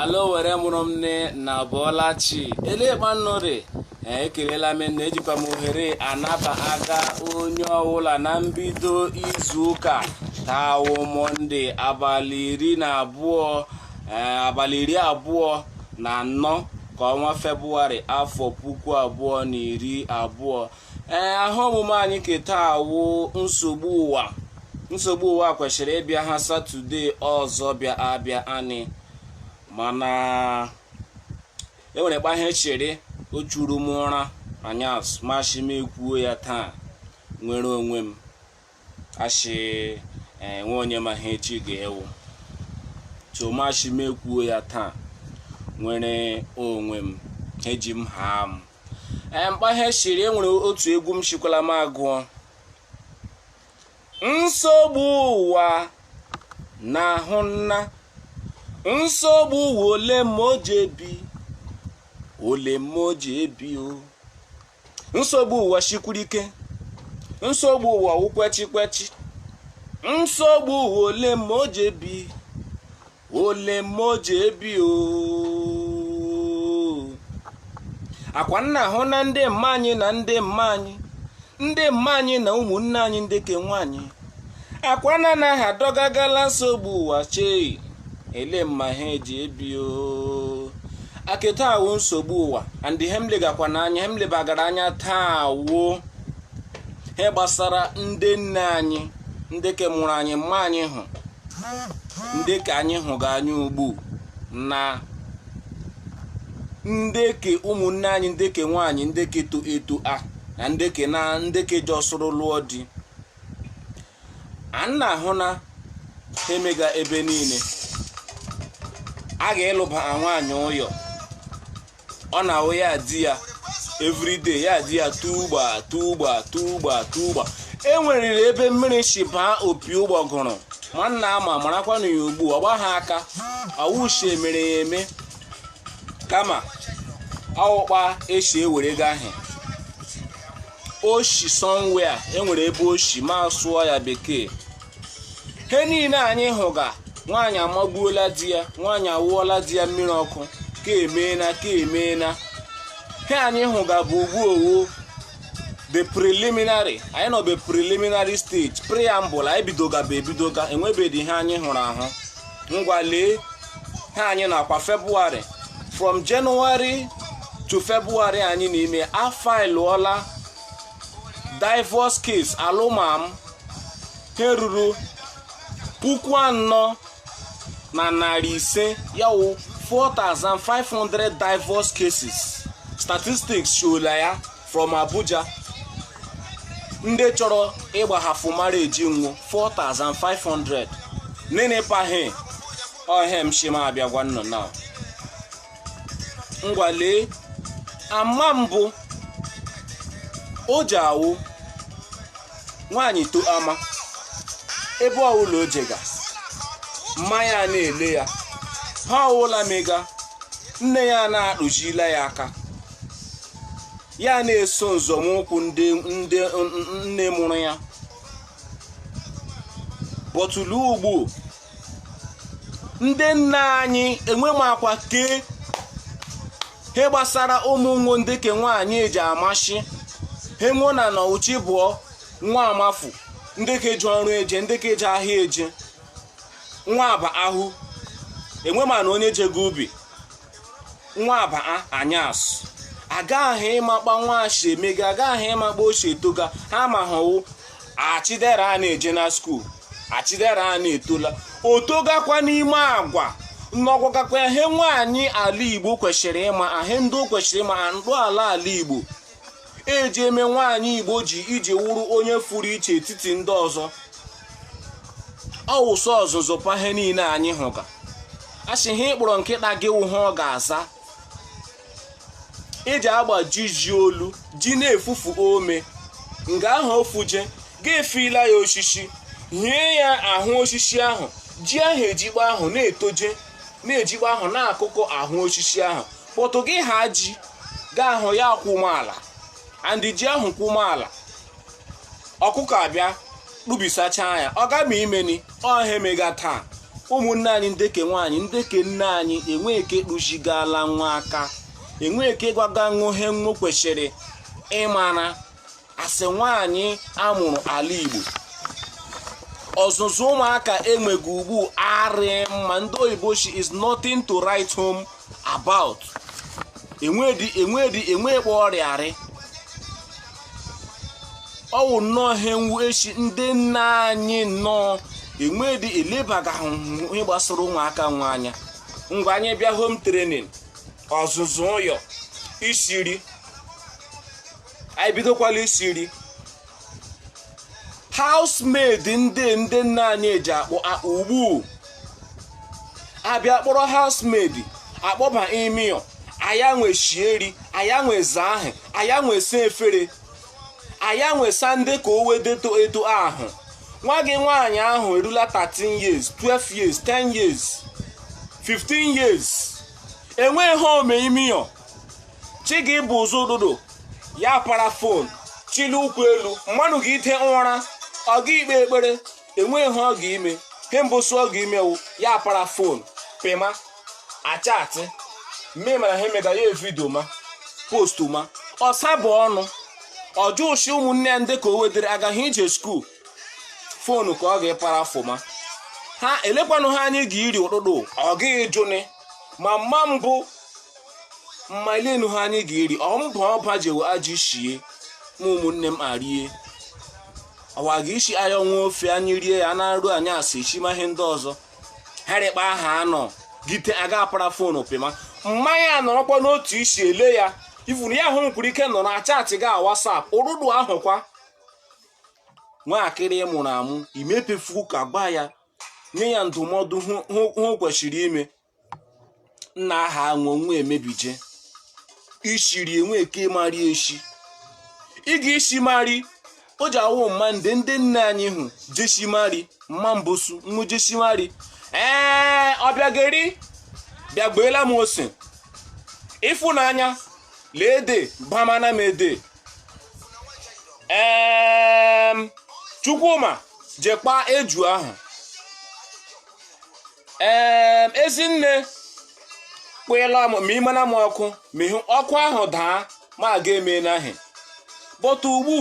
ala owere mụrụ m nne nnụ abọọla chi elee kpa nnụ rị ekelela m na ejikwa m ohere a anabaga onye ọwụla na mbido izu ụka taa wụ mọnde abalị iri na abụọ eh, abalị iri abụọ na anọ ke ọnwa febụwarị afọ puku abụọ na iri abụọ ee aha omume anyị ke taa wụ nsogbu ụwa nsogbu ụwa kweshịrị ịbịa ha satọde ọzọ bịa abịa nị mana enwere kpa he shiri ọ chụrụ m ụra anyasụ m ashị m ekwuo ya taa nwere onwe m a shị enwe onye ma ihe echi ga-ịwụ so m ashị m ekwuo ya taa nwere onwe m eji m ha m ee kpa he shiri enwere otu egwu m shikwala m agụọ nsogbu ụwa na-ahụ nna nsogbu ụwa olee mma o ji ebi olee mma o ji ebi o nsogbu ụwa shikwuru ike nsogbu ụwa wụ kwechi kwechi nsogbu ụwa olee mma o ji ebi olee mma o ji ebi o akwa nnụ ahụna ndị mma anyị na ndị mma anyị ndị mma anyị na ụmụnne anyị ndị ke nwaanyị akwa nnụ na ha adọgagala nsogbu ụwa chei elee mma ha eji ebi o a ke taa wụ nsogbu ụwa and he m legakwa n'anya he m lebagara anya taa wụ he gbasara ndị nne anyị ndị ke mụrụ anyị mma anyị hụ ndị ke anyị hụga anya ugbu na ndị ke ụmụnne anyị ndị ke nwaanyị ndị ke to eto a na ndị ke na ndị ke jọsụrụ lụọ di a nnụ ahụna he mega ebe niile a ga-ịlụba nwaanyị ụyọ ọ na-awụ ya di ya everyday ya di ya tugba tugba tugba tugba enweriri ebe mmiri shi baa opi ụgbọgụrụ ma nnụ ama marakwanụ ya ugbu ọ gbahụ aka awụ shi e mere ya eme kama awụ kpa e shi ewerega he o shi somewhere enwere ebe o shi m a sụọ ya bekee he niile anyị hụga nwaanyị amagbuola di ya nwaanyị awụọla di ya mmiri ọkụ ke emeena ke emeena he anyị hụga be ugbu ọ wụ be preliminary anyị nọ be preliminary stage preamble anyị bidoga be ebidoga enwebedi ihe anyị hụrụ ahụ ngwa lee he anyị nọkwa febụwarị from January to February anyị n'ime afailụọla divorce case alụmam he ruru puku anọ na narị ise ya wụ 4500 divorce cases statistics showla ya from Abuja ndị chọrọ ịgbahafu marriage nwo 4500 nene kpa he ọ he m shi m abịa gwa ụnụ na ngwa lee ama mbụ o ji awụ nwaanyị to ama ebe ọwụla o jega mma ya na-ele ya he ọwụla o mega nne ya na-atụzila ya aka ya na-eso nzọmụkwụ ndị nne mụrụ ya but lee ugbu ndị nne anyị enwe makwa ke he gbasara ụmụ nwo ndị ke nwaanyị eji amashi he nwo na na chi bọọ nwa amafu ndị ke eje ọrụ eje ndị ke eje ahịa eje nwa aba ahụ enwe manụ onye jego ubi nwa aba anyasụ agaghị ịma kpa nwa shi emega agaghị ịma kpa o shi etoga he ma hụ wụ a Chidera a na-eje na skuul a Chidera a na-etola o togakwa n'ime agwa ị gwagakwa ihe nwaanyị ala igbo kwesịrị ịma he ndị o kwesịrị ịma he ndị ala ala igbo eji eme nwaanyị igbo o ji iji wụrụ onye fụrụ iche etiti ndị ọzọ ọ wụ sọ ọzụzụ kpa he niile anyị hụga a sị he ị kpọrọ nkịta gị wụ he ọ ga-aza eji agbajizi olu ji na-efufu ome nga ahụ o fuje ga-efila ya osisi hie ya ahụ osisi ahụ ji ahụ ejigbo ahụ na-etoje na-ejigbo ahụ na-akụkọ ahụ osisi ahụ but gị haa ji gahụ ya kwụma ala and ji ahụ kwụ maala ọkụkọ abịa tụbisacha ya ọ ga ma imeni ọ he emega taa ụmụnne anyị ndeke nwaanyị ndeke nne anyị enwe ike tụzigala nwa aka enwe ike gwaga nwo he nwo kwesịrị ịmara as nwaanyị amụrụ ala Igbo ọzụzụ ụmụaka enweghị ugbu arị mma ndị oyibo shi it's nothing to write home about enwedi enwedi enwe kpa ọ rị arị ọ wụ nnọọ ihe nwu echi ndị nne anyị nnọọ enwedi elebaga ihe gbasara ụmụaka nwa anya ngwa anyị bịa home training ọzụzụ ụyọ isi ri anyị bidokwala isi nri housemaid ndị ndị nna anyị eji akpọ akpọ ugbu a bịa kpọrọ housemaid akpọba ime ụyọ aya nwe shie iri aya nwe zaa ahụ aya nwe saa efere aya nwe saa ndị ka o wedeto eto ahụ nwa gị nwaanyị ahụ erula 13 years 12 years 10 years 15 years enweghị ihe ọ me ime ụyọ chi ga-ibọ ụzọ ụdụdụ ya para fon chilie ụkwụ elu mmadụ ga-ite ụra ọ gaghị ikpe ekpere enweghị ihe ọ ga-ime ihe mbụsụ ọ ga-ime wụ ya para fon pịma achatị mme mana ha emega ya vidio ma postu ma ọsa bụ ọnụ ọjụ shị ụmụnne ya ndị ka o wedere agaghị ije skuul fonu ka ọ ga-epara fụma ha elekwanụ ihe anyị ga-iri ụtụtụ ọ gaghị ịjụni ma mma mbụ mma elenụ ihe anyị ga-eri ọ mbụ ọba jewe ajụ shie ma ụmụnne m arie ọwa ga isi aya ọnwa ofe anyị rie ya na nri anyị asụ echi ma ihe ndị ọzọ ha rịkpa aha anọgide aga apara fonu pịma mma anọrọkwa n'otu isi ele ya ifuru ya ahụ nkwuru ike nọ na chatị ga WhatsApp ụrụdụ ahụkwa nwaakịrị mụrụ amụ imepefu ka gwa ya nye ya ndụmọdụ ihe o kwesịrị ime nna aha aṅụ nwa emebije ishi iri enwe eke mari eshi ị ga isi mari o ji awụ mma ndị ndị nne anyị hụ jeshimari mma mbosu nwa jeshimari ee Obiageri bịagbeela m ose ịfụnanya leede bamana m ede chukwuma jekwa eju ahụ ee ezinne kpụela m ma imena m ọkụ ma ihu ọkụ ahụ daa ma aga eme n'ahị bọta ugbu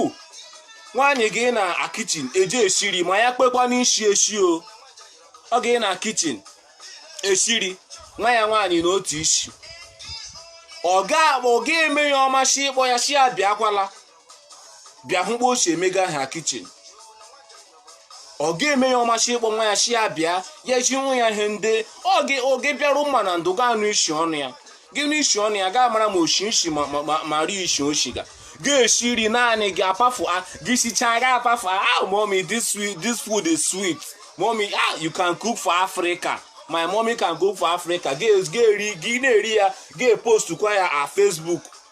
nwaanyị gị na kichin eje esi iri ma ya kpekwa n'isi esi o ọ ga-anọ kichin esi iri nwa ya nwaanyị n'otu isi ọ ga-eme ya ọmashị ịkpọ ya shi ya bịakwala bịa hụ kpa o si emega ha kichin ọ ga-eme ya ọmasị ịkpọ nwa ya si ya bịa ya ezi nwa ya ihe ndị oge bịara mma na ndụ ga anụ isi ọnụ ya gị anụ isi ọnụ ya gị amara ma o shi nshi ma ma- ma- ma rie isi oshi ga ga-esi nri naanị gị apafu a gị sichaa gị apafu a ah mommy this sweet this food is sweet mommy ah you can cook for africa my mommy can cook for africa ga- ga-eri gị na-eri ya ga-epostukwa ya a facebook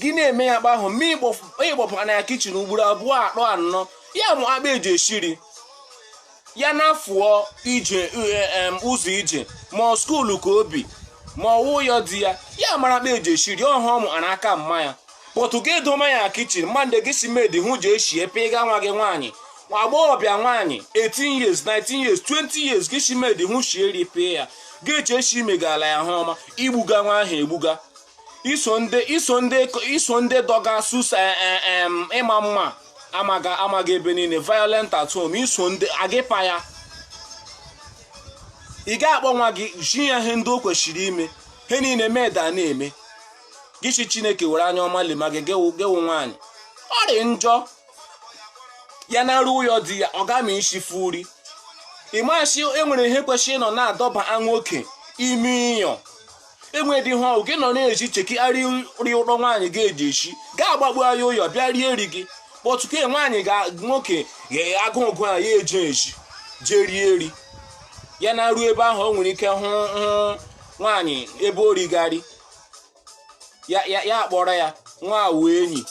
gị na-eme ya kpa ahụ ma ị kpọbana ya kichin ugboro abụọ atọ anọ ya amụ akpa eji eshi eri ya na-afụọ ije e, ụzọ ije ma ọ skuulu ka ọ bụ ma ọ wụ ya di ya ya amara akpa eji eshi eri ọhụ ọ mụ a n'aka mma ya pọtụ gị edoma ya kichin ma ndị gị si maid ahụ ji eshi epe ịga nwa gị nwaanyị nwa agbọghọbịa nwaanyị 18 years 19 years 20 years gị si maid ahụ shie eri pee ya gị eche shi i megala ya he ọma i gbuga nwa ahụ egbuga iso ndị iso ndị iso ndị dọga susa e, e, em, ị ma mma amaga amaga ebe niile violent at home iso ndị agịpa ya ị ga-akpọ nwa gị zi ya ihe ndị o kwesịrị ime he niile maid na-eme gị sị chineke were anya ọma lema gị gị wụ gị wụ nwaanyị ọ dị njọ ya naruo ụyọ di ya ọ gama isifu eri ị ma sị enwere ihe kwesịrị ịnọ na-adọba nwoke ime ụyọ enwedị ihe ọ wụ gị nọ na-eji chekigharị eri ụlọ nwaanyị ga-eji eshi gị agbagbu anyị ụyọ bịa rie eri gị kpọtụke nwaanyị ga nwoke ga-agụ ụgụ a ya eji eji jee rie eri ya naruo ebe ahụ o nwere ike hụ hụ nwaanyị ebe o righarị ya ya ya akpọrọ ya nwewe enyi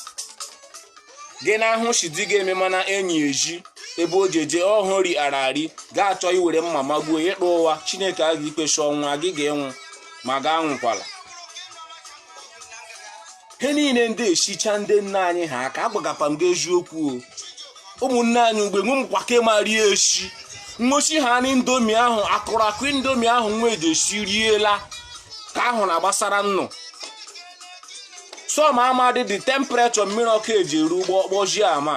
gị na-ahụ shi di gị emewana enyi ezi ebe o ji eje ọhụ ri ara ari ga-achọ iwere mma magbuo ya ị pụ ụwa chineke a ga-ikpechi ọnwụ a gị ga-anwụ ma gị anwụkwala ihe niile ndị echicha ndị nna anyị ha aka agwagakwa m gị eziokwu o ụmụ nwaanyị ugbue nwe mkwa ka ị ma eri eshi nwechi ha na indomi ahụ akụrụ akụ indomi ahụ nwa eji esi riela ka ahụ na gbasara nnụ some amadịghị temperature mmiri ọkụ eji eru ụgbọ kpọjie ama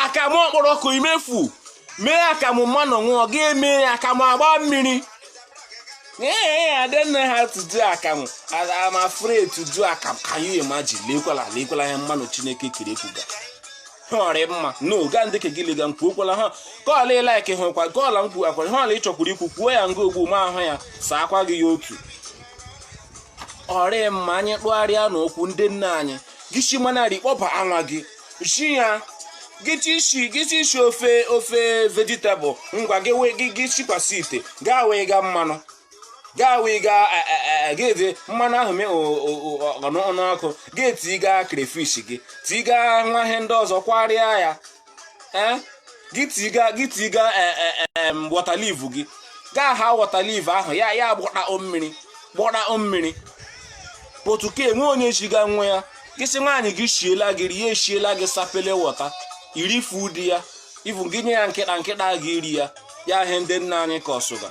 akamụ ọ kpọrọ ọkụ imefu mee akamụ mmadụ ṅụọ gị eme ya akamụ agba mmiri ee I don't know how to do akamụ and I'm afraid to do akamụ can you imagine lekwala lekwala ya mmadụ chineke kere ekwuga ọ rị mma no ga ndị ka gị lega mkpu okwala ha kọọla ị like hụkwa kọọla mkpu akwa họọla ị chọọ kwuru ikwu kwuo ya nga ogbu ma ahụ ya saa akwa gị ya otu ọ rị mma anyị tụgharịa n'okwu ndị nna anyị gị si manarị kpọbaa nwa gị zi ya gị tishi gị tishi ofe ofe vegetable ngwa gị wee gị gị shikwasị ite gaa wee gaa mmanụ gaa wee gaa e, e, e, gị dị mmanụ ahụ mee o- o- o- ọnụ ọnụ ọkụ gị tii gaa crayfish gị tii gaa nwa ihe ndị ọzọ kwarịa ya ee gị tiga gị tiga water leaf gị gaa ha water leaf ahụ ya ya gbọta o mmiri gbọta o mmiri but ka enwe onye chiga nwa ya gị sị nwaanyị gị shiela gị rie eshiela gị Sapele water irifu di ya ivu gị nye ya nkịta nkịta gị iri ya ya ihe ndị nna anyị ka ọsụga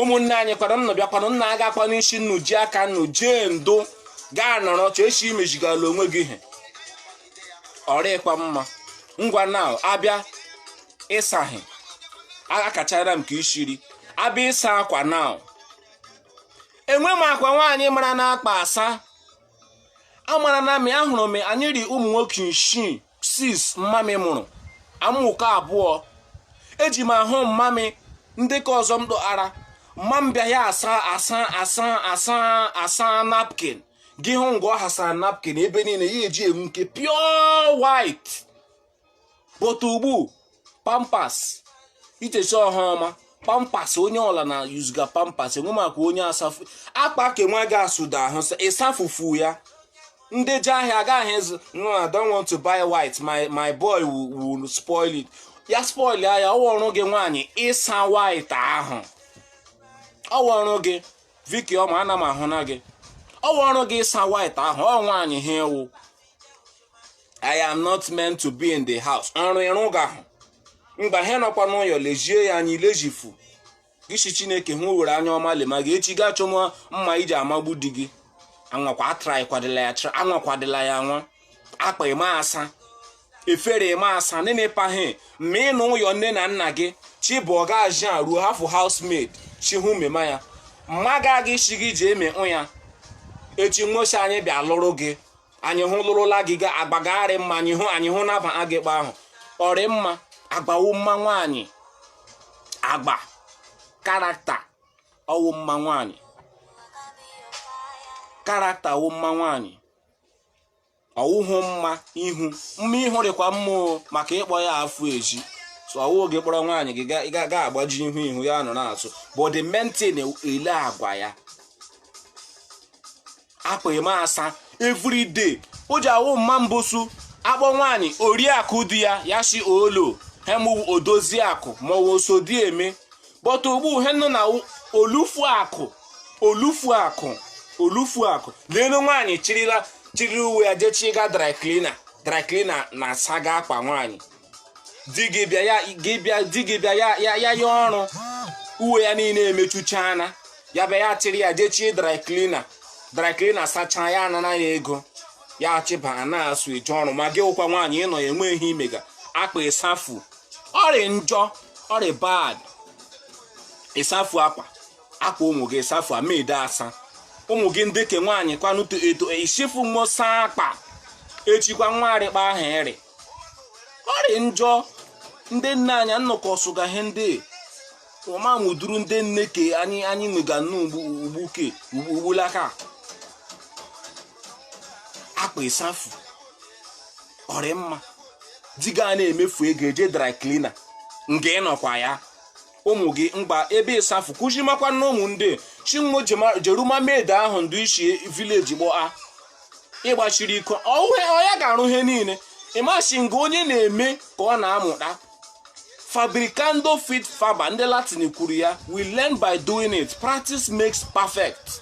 ụmụnne anyị kwanụ nna bịakwanụ nna aga akwa n'isi nnu ji aka nnu jee ndo gaa nọrọ chọọ echi imejigala onwe gị ihe ọrịkwa mma ngwa na abịa ịsaghị akachara m ka ishiri abịa ịsa akwa na enwe m akwa nwaanyị mara na-akpa asa amara na mị ahụrụ m anyị rị ụmụ nwoke isii six mmamị mụrụ amụkọ abụọ eji m ahụ mmamị ndị ka ọzọ m dọghara mma m bịa ya asa asa napkin gị hụ ngwa ọ hasara napkin ebe niile ya eji enwu nke pure white but ugbu Pampers ichechi ọha ọma Pampers onye ọla na yuzuga Pampers enwe maka onye asafu akpa ke nwa ga asụda ahụ ịsafufu ya ndị je ahịa agaghị ịzụ no I don't want to buy white my my boy will spoil it ya spoil ya ọwụ ọrụ gị nwaanyị ịsa white ahụ ọwụ ọrụ gị Vicky ọma ana m ahụ na gị ọ wụ ọrụ gị ịsa white ahụ ọ nwaanyị ha ewu I am not meant to be in the house ọrụ ị rụga ahụ mgbe ha nọkwa n'ụyọ lezie ya anya ilezifu gị sị Chineke hụ were anya ọma lema gị echi gaa chọ mma ị ji amagbu di gị anwakwa atry kwadịla ya try anwakwadịla ya nwa akpa ịma asa efere ịma asa nene pahe ma ị nọ n'ụyọ nne na nna gị chi bọọ ga aji a ruo hafụ housemaid chi hụ mema ya mma gaghị isi gị ji eme ụya echi nwosi anyị bịa lụrụ gị anyị hụ lụrụla gị ga agbagharị mma anyị hụ anyị hụ naba agịkpa ahụ ọrị mma agwa wụ mma nwaanyị agwa character ọwụ mma nwaanyị character wụ mma nwaanyị ọwụhụ mma ihu mma ihu dịkwa mma maka ịkpọ ya afụ ezi so ọwụ gị kpọrọ nwaanyị gị gaba ezi ihu ihu ya nọ na-atụ but the main thing ele agwa ya akpa ịma asa everyday o ji awụ mma mbosu akpọ nwaanyị oriakụ di ya ya si olo ihe m wụ odozi akụ maọbụ osodieme kpọta ugbu ihe nọ na olufuakụ olufuakụ olufuakụ leenu nwaanyị chirila chiri uwe ya jechiga dry cleaner dry cleaner na-asaga akwa nwaanyị di gị bịa ya gị bịa di gị bịa ya ya ya ya ọrụ uwe ya niile emechuchana ya bịa ya chịrị ya jechie dry cleaner dry cleaner sachaa ya anana ya ego ya chịba na-asụ eje ọrụ ma gị wụkwa nwaanyị ị nọ ya enweghị i mega akwa ị safu ọ rị njọ ọ rị bad ị safu akwa akwa ụmụ gị ị safu maid asa ụmụ gị ndị ke nwaanyị kwanụ etoo ị sịfu wo saa akwa echikwa nwa arịkwa ahụ ị rị ọ rị njọ ndị nna anyị nnọkọ sụga ihe ndị ọma mụduru ndị nne ke anyị anyị nwega nnu ugbu ke ugbulaka akwa ị safu ọ rị mma di gị a na-emefu ego eje dry cleaner nga ị nọkwa ya ụmụ gị ngwa ebe ị safụ kụzimakwa na ụmụ ndị chinwo jeruma maid ahụ ndị i si village kpọọ ị gbachiri iko ọhụhụ ya ga-arụ ihe niile ị ma sị nga onye na-eme ka ọ na-amụta fabricando fit faber ndị latin kwuru ya we learn by doing it practice makes perfect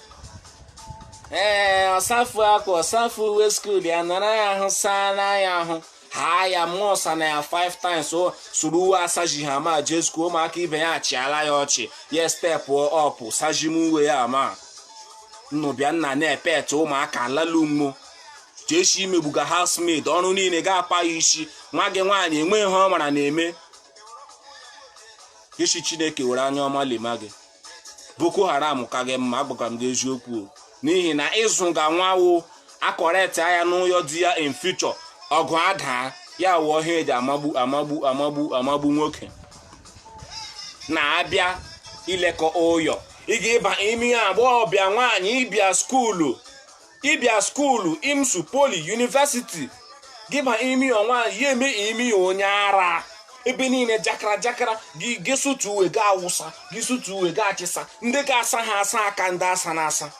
ee ọ safụ akwa ọ safụ uwe skuul ya nara ya ahụ saa na ya ahụ ha ya mụọ ọ sana ya five times o suru uwe asaji ha mma jee skuul ụmụaka ibe ya achịala ya ọchị ya step up sajima uwe ya ma nnụbịa nna na-epet ụmụaka lalu mmo che sị i megbuga housemaid ọrụ niile ga-apa ya isi nwa gị nwaanyị enweghị ihe ọ mara na-eme ị sị chineke were anya ọma lema gị boko haram ka gị mma agwagara m gị eziokwu n'ihi na ị zụga nwa wo akọreti anya n'ụyọ di ya in future ọgụ adaa ya wụ ihe eji amagbu amagbu amagbu amagbu nwoke na-abịa ilekọ ụyọ ị ga-aba ime ụyọ agbọghọbịa nwaanyị ị bịa skuulu ị bịa skuulu imsu poli yunivesiti gị baa ime ụyọ nwa ya eme ime onye ara ebe niile jakara jakara gị gị sụtu uwe gị awụsa gị sụtu uwe gị achịsa ndị ga-asa ha asa aka ndị asana asa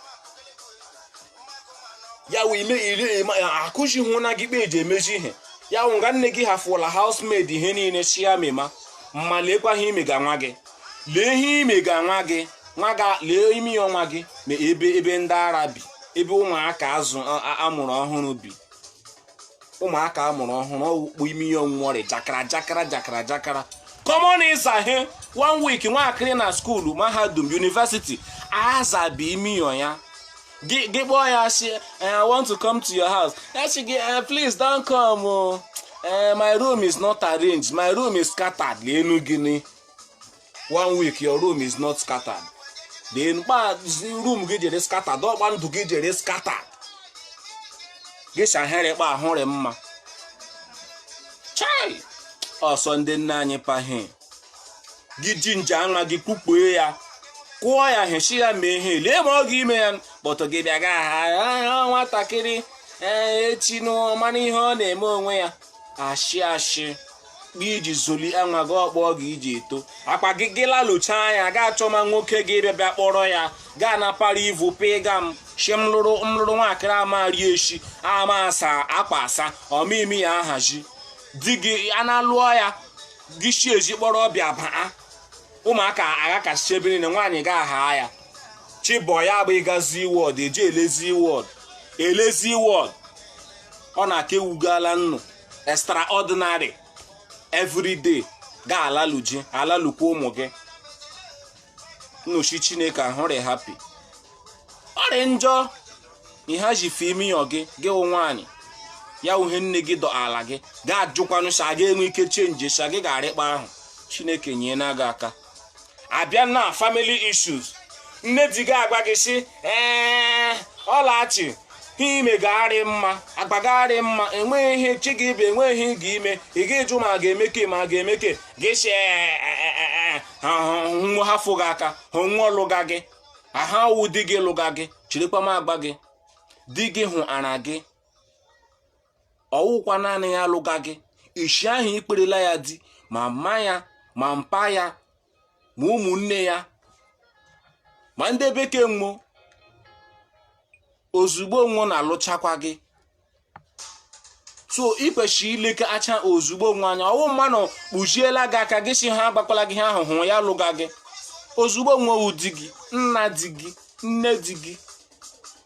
ya wee ime iri akụzihụna gị kpa eji emezi ihe ya wụ nga nne gị hafụla housemaid ihe niile sị ya mema ma lekwa ihe i mega nwa gị lee ihe i mega nwa gị nwa ga lee ime ụyọ nwa gị na ebe ebe ndị ara bi ebe ụmụaka azụ a- a- amụrụ ọhụrụ bi ụmụaka amụrụ ọhụrụ ọ wụ kpa ime ụyọ wo rị jakara jakara jakara jakara common ịza ihe one week nwaakịrị na skuulu mahadum yunivesiti azabi ime ụyọ ya gị gị kpọọ ya sị i want to come to your house ya sị gị "Eh, please don't come o Eh, my room is not arranged my room is scattered leenu gịnị one week your room is not scattered then kpa room gị jere scattered ọ kpa ndụ gị jere scattered gị shahere kpa ahụrị mma chai ọsọ ndị nna anyị pahe gị ji nje anwa gị kpukpue ya kụọ ya hechi ya mee ihe lee ma ọ ga-ime ya kpọtụ gị bịa ga aha nwatakịrị ee echi n'ọ mara ihe ọ na-eme onwe ya ashị ashị kpa iji zụlia nwa gị ọ kpa ọ ga iji eto akpa gị gị lalụcha anya ga achọ ma nwoke gị bịa bịa kpọrọ ya ga na para ivu pịga m shi m lụrụ m lụrụ nwaakịrị amarị eshi ama asa akpa asa ọmịmị ya ahazi di gị a na-alụọ ya gị shi ezi kpọrọ ọbịa baa ụmụaka aghakasị ebe niile nwaanyị ga aha ya chibọ ya bụ ịgazi wọd eji elezi wọd elezi wọd ọ na-aka ewugala nnụ extraordinary everyday ga alalụji alalụkwa ụmụ gị nnochi chineke ahụrị happy ọrị njọ ihe ji fi imi yọ gị gị wụ nwaanyị ya uhe nne gị dọ ala gị ga ajụkwanụ sa ga enwe ike change sa gị ga-arịkpa ahụ chineke nyee na gị aka abịa na family issues nne di gị agwa gị si ee ọlachi ihe ime gị arị mma agba gị arị mma enweghị ihe chi gị bụ enweghị ihe gị ime ị ga ịjụ ma ga-emeke ma ga-emeke gị si nwo hafụ gị aka ha nwo lụga gị aha wụ di gị lụga gị chirikwa m agba gị di gị hụ ara gị ọwụkwa naanị ya lụga gị ishi ahụ ikwerela ya di ma mma ya ma mpa ya ma ụmụnne ya ma ndị be ke nwo ozugbo nwo na-alụchakwa gị so ị kwesịrị ileke acha ozugbo nwo anya ọwụ mmanụ kpuchiela gị aka gị si ha agbakwala gị ha ahụhụ ya lụga gị ozugbo nwo wụ di gị nna di gị nne di gị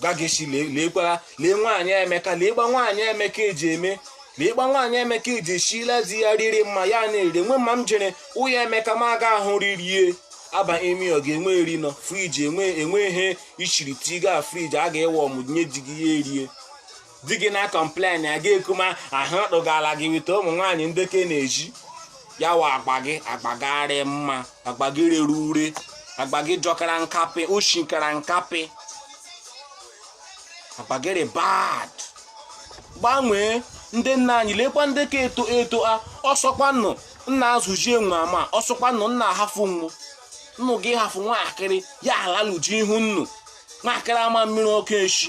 gageshi leekwara lee nwaanyị emeka lee kpa nwaanyị emeka eji eme lee kpa nwaanyị emeka eji eshila di ya riri mma ya na-ere nwe mma m jere ụya emeka ma aga ahụ ririe aba emi ọ ga-enwe eri nọ fridge enwe enwe ihe ichiri tiga fridge a ga-ewe ọmụ nye di gị ya erie di gị na complain ya gị ekuma ahụ rụgara gị weta ụmụ nwaanyị ndị ke na-eji ya wa agba gị agba gị arị mma agba gị rere ure agba gị jọkara nkapị oshikara nkapị agba gị rị bad gbanwee ndị nna anyị lekwa ndị ka eto eto a ọsọkwanụ nna azụjie nwa ma ọsọkwanụ nna ahafụ nwụ nnụ gị hafụ nwaakịrị ya alalụji ihu nnu nwaakịrị ama mmiri ọkụ echi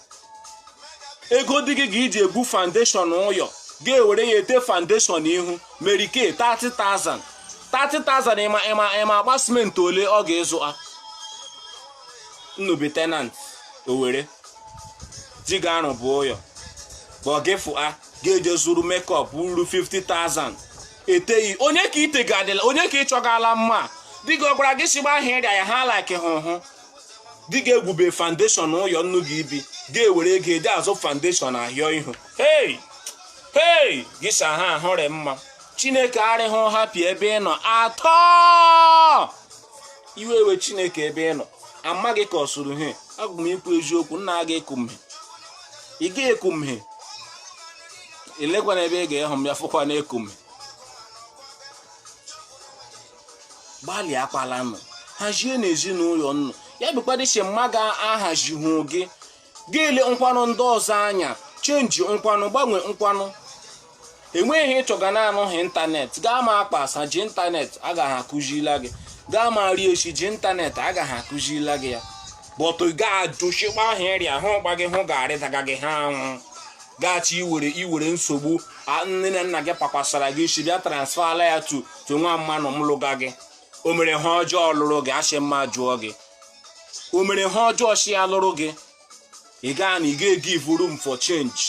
ego di gị ga-eji egwu foundation ụyọ gị ewere ya ete foundation ihu Mary Kay 30,000 30,000 ị ma ị ma ị ma akpa simenti ole ọ ga-azụ a nnu bi tenant Owere di gị arụbụ ụyọ bọgịfụ a ga-eje zụrụ makeup ruru 50,000 eteghị onye ka ite ga-adịla onye ka ị chọgala mma di gị ọ gwara gị sigba ahịa ịrịa ya ha like hụ hụ di gị egwube foundation ụyọ nnu ga-ebi gị ewere ego eji azụ foundation ahịọ ihu hey hey gị sa ha ahụrị mma chineke arịghị happy ebe ị nọ at all iwe ewe chineke ebe ị nọ amaghị ka ọ sụrụ he aga m ikwu eziokwu nna aga eku m he ị ga-eku m he elekwana ebe ị ga-ehụ m ya fụkwa na eku m he gbalịakwalanụ hazie n'ezinụlọ nnụ ya bụkwadị si mma gị ahazihụ gị gị le nkwanụ ndị ọzọ anya change nkwanụ gbanwe nkwanụ enweghị ihe ị chọga na-anọghị ịntanetị gaa ma akpa asa ji ịntanetị agaghị akụzila gị gaa ma rie echi ji ịntanetị agaghị akụzila gị ya but ga-ajụchikwa ahụ ịrịa hụ gba gị hụ ga-arịdaga gị ha anwụ gachi iwere iwere nsogbu a nne na nna gị pakwasara gị isi bịa transferla ya to to nwa mmanụ m lụga gị o mere he ọjọọ lụrụ gị asị mma jụọ gị o mere he ọjọọ sị ya lụrụ gị ị gaa na ị ga-give room for change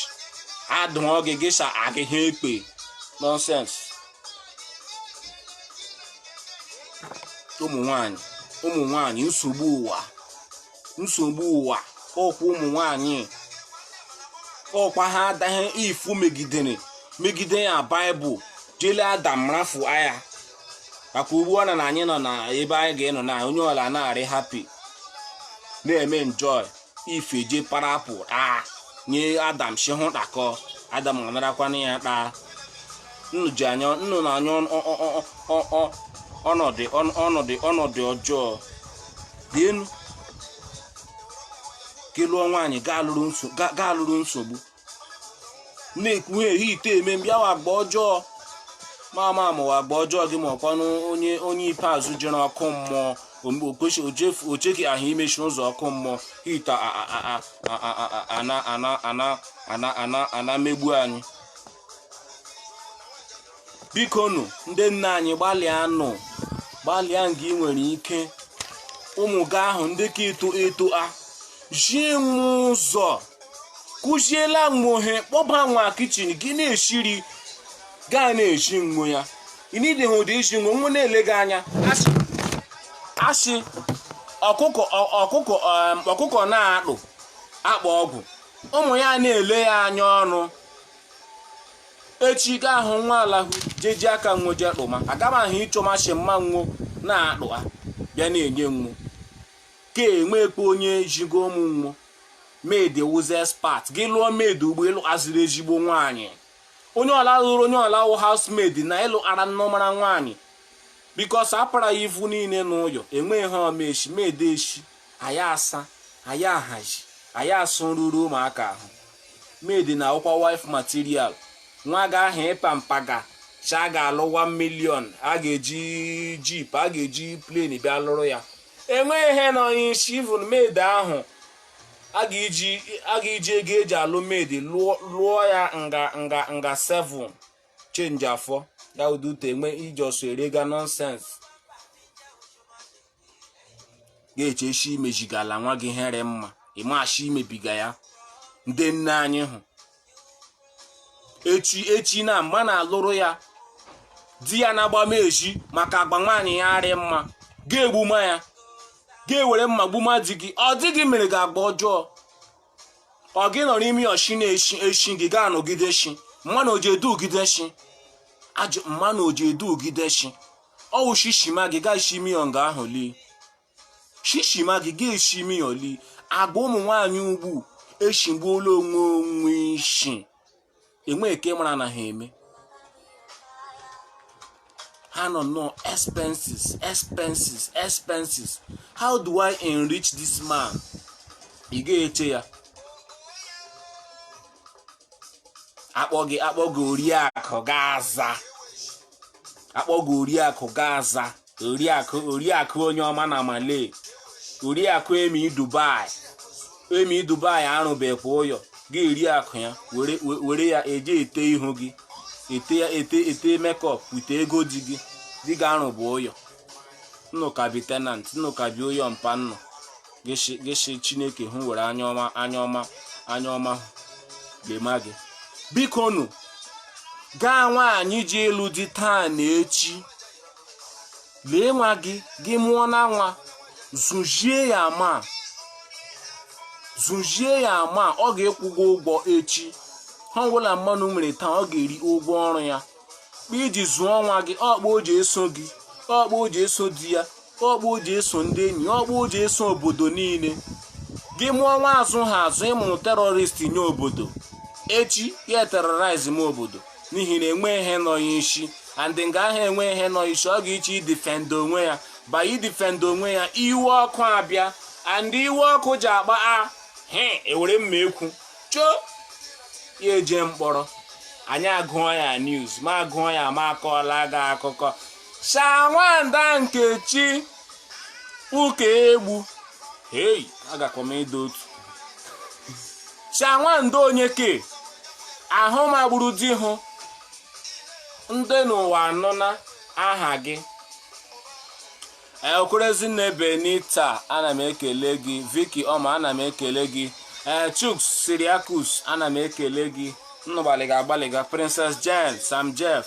adụọ gị gị sa agị ha ekwe nonsense ụmụ nwanyị ụmụ nwanyị nsogbu ụwa nsogbu ụwa ọkwa ụmụ nwanyị ọkwa ha adaghị Eve megidere megide ya baịbụl jele adam rafu aya maka ugbu ọ na na anyị nọ na ebe anyị ga-enọ na onye ọla na-arị happy na-eme enjoy Eve je para apple taa nye adam shi hụ takọ adam anarakwana ya taa nnu na anyị ọnọdụ ọjọọ then gị lụọ nwaanyị gị alụrụ nsogbu na-ekwu he heat a eme mbịawa agba ọjọọ ma ama amụwa agba ọjọọ gị ma ọkwanụ onye onye ikpeazụ jere ọkụ mmụọ o chetahụ imechi ụzọ ọkụ mmụọ heat a na-emegbu anyị biko nụ ndị nna anyị gbalịa nụ gbalịa nga ị nwere ike ụmụ gị ahụ ndị ka eto eto a zi nwo ụzọ kụziela nwo ihe kpọba nwo kitchen gị na-eshi iri ga na-ezi nwo ya ịnidịghị ụdị iji nwa nwo na-ele gị anya a sị ọkụkọ na-akpụ akpa ọgwụ ụmụ ya na-ele ya anya ọnụ echi gị ahụ nwo alahụ jeji aka nwo je kpụma aga m ahụ ị chọma shi mma nwo na-akpụ ha bịa na-enye nwo ka enwekpe onye zigo ụmụ nwo maid wụzi expert gị lụọ maid ugbu ị lụaziri ezigbo nwaanyị onye ọla lụrụ onye ọla wụ housemaid na ị lụara nnọmara nwaanyị because a para ya ivu niile n'ụyọ enweghị he ọ mashị maid eshie ya asa ya ahazi ya asụ nruru ụmụaka ahụ maid na-awụkwa wife material nwa gị ahụ ị pamper ga shị a ga-alụ 1 million a ga-eji jeep a ga-eji plane bịa lụrụ ya enweghị ihe nọ ya n'ishi even maid ahụ a ga-eji ego eji alụ maid lụọ ya nga 7 change afọ ya ụdị ute enwe iji ọsọ erega nonsense ga-eche shi i mezigala nwa gị he rị mma ị mashị i mebiga ya ndị nne anyị hụ eche shi na mma na-alụrụ ya di ya na-agbama ezi maka agba nwaanyị ya arị mma ga-egbuma ya gị ewere mma gbuma di gị ọ di gị mere gị agba ọjọọ ọ gị nọrọ ime ụyọ shi na-eshi eshi gị ga-anọgide shi mmanụ oji edugide shi ajụ mmanụ oji edugide shi ọ wụ shishima gị ga-eshi ime ụyọ nga ahụ lee shishima gị ga-eshi ime ụyọ lee agwa ụmụ nwaanyị ugbu eshigbuola onwe onwe ishi enweghị ke ị mara na ha eme ha nọ nnọọ expenses expenses how do i enrich this man ị ga-eche ya akpọ gị oriakụ gị aza akpọ gị oriakụ gị aza oriakụ oriakụ onye ọma na malay oriakụ emi dubai emi dubai arụbekwa ụyọ gị oriakụ ya were we- were ya eje ete ihu gị ete ya ete ete makeup with ego di gị di gị arụbe ụyọ nnụ ka bi tenant nnụ ka bi ụyọ mpa nnụ gị shi- gị shi chineke hụ were anya ọma anya ọma anya ọma lema gị biko nụ gaa nwaanyị ji alụ di taa na echi lee nwa gị gị mụọna nwa zụzie ya ma zụzie ya ma ọ ga-akwụ gị ụgwọ echi ihe ọbụla mmanụ mere taa ọ ga-eri ụgwọ ọrụ ya kpa i ji zụọ nwa gị ọ kpa o ji eso gị ọ kpa o ji eso di ya ọ kpa o ji eso ndị enyi ya ọ kpa o ji eso obodo niile gị mụọ nwa azụha azụ ị mụrụ terrorist nye obodo echi ya terrorize ma obodo n'ihi na enwe ihe nọ ya isi and nga ahụ enwe ihe nọ isi ọ ga-achọ idefend onwe ya ba idefend onwe ya iwe ọkụ abịa and iwe ọkụ ji agba a he ewere mma ekwu choo ya eje mkpọrọ anyị agụọ ya news ma agụọ ya ma akọọla gị akụkọ sha nwanda nkechi ụkaegbu hei agakwa m ịda otu chanwando onye ke ahụ magburu di hụ ndị n'ụwa anụna aha gị okwere ezinne benita ana m ekele gị vicky ọma ana m ekele gị ee chuks cyriacus ana m ekele gị nnu gbalịga agbalịga princess jane sam jeff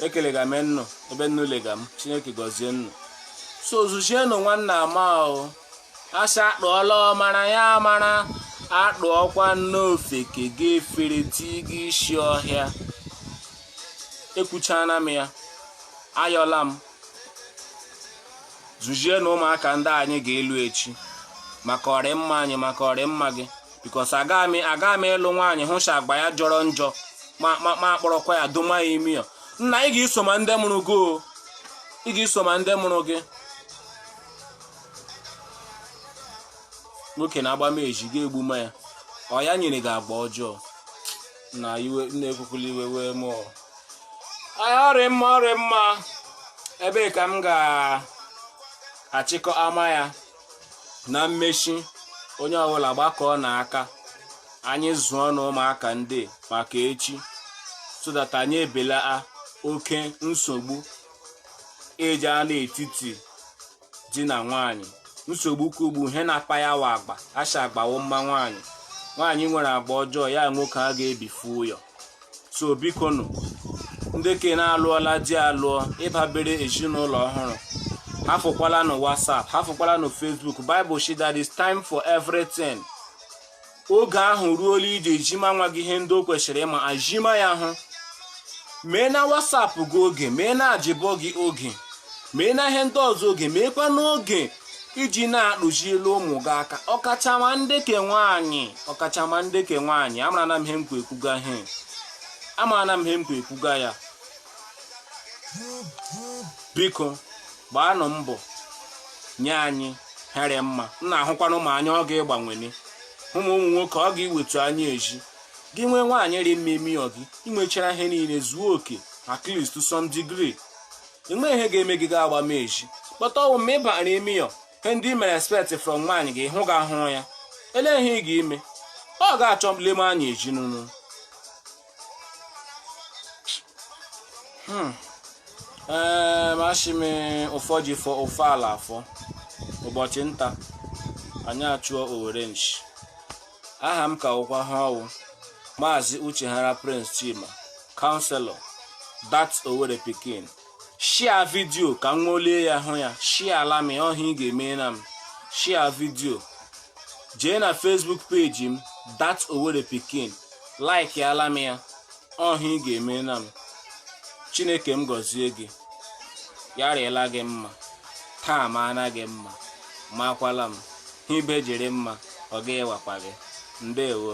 ekelega m nnu ebe nnu lega m chineke gọzie nnu so zụzienụ nwanna ama ahụ a sị a tụọla ọmara ya amara a tụọkwanụ ofeke gị efere ti gị isi ọhịa ekwuchaana m ya ayọọla m zụzienụ ụmụaka ndị anyị ga-alụ echi maka ọrịmma anyị maka ọrịmma gị because agaghị m agaghị m ịlụ nwaanyị hụ shi agba ya jọrọ njọ ma ma ma akpọrọkwa ya doma ya ime ụyọ nna ị ga-eso ma ndị mụrụ gị o ị ga-eso ma ndị mụrụ gị nwoke na-agba m eji gị egbu ma ya ọ ya nyere gị agba ọjọọ na iwe na-ekwukwula iwe wee mụ o ọ rị mma ọ rị mma ebe a ka m ga-achịkọ ama ya na mmechi onye ọbụla gbakọọnụ aka anyị zụọnụ ụmụaka ndị maka echi so that anyị ebelaa oke nsogbu eji anọ etiti di na nwaanyị nsogbu ka ugbu ihe na-akpa ya wụ agba a shị agba wụ mma nwaanyị nwaanyị nwere agba ọjọọ ya nwoke aga-ebifu ụyọ so bikonụ ndị ke na-alụọla di alụọ ị babere ezinụlọ ọhụrụ hafụkwala na whatsapp hafụkwala na facebook bible shi there is time for everything oge ahụ ruola i ji ezima nwa gị ihe ndị o kwesịrị ịma azima ya hụ mee na whatsapp gị oge mee na job gị oge mee na ihe ndị ọzọ oge meekwa n'oge iji na-akpụziela ụmụ gị aka ọkachama ndị ke nwaanyị ọkachama ndị ke nwaanyị amara na m ihe m kwa ekwuga ihe amara na m ihe m kwa ekwuga ya biko gbaanụ mbọ nye anyị he rị mma m na-ahụkwanụ ma anya ọ ga-ịgbanwene ụmụ ụmụ nwoke ọ ga-iwetu anya ezi gị nwee nwaanyị rị mma ime ọ gị inwechara ihe niile zuo oke at least to some degree enwe ihe ga-eme gị ga agbama ezi but ọ wụ ma ị bara ime ya ihe ndị i mere expect from nwaanyị gị hụ ga ahụrụ ya ele ihe ị ga-eme ọ ga-achọ leme anya ezi n'ụlọ ee ma shị m ụfọ ji fọ ụfọ ala afọ ụbọchị nta anyị achụọ owere nchi aha m ka wụkwa he ọ wụ maazị uchehara prince chima kanselọ dat owere pikin shia vidio ka m ṅụlie ya hụ ya shiaala m ọ hụ ị ga-emena m shia vidio jee na facebook peji m dat owere pikin like ala m ya ọ hụ ị ga-emela m chineke m gọzie gị ya rịela gị mma taa maana gị mma makwala m he ibe ji rị mma ọ ga-ịwakwa gị ndewo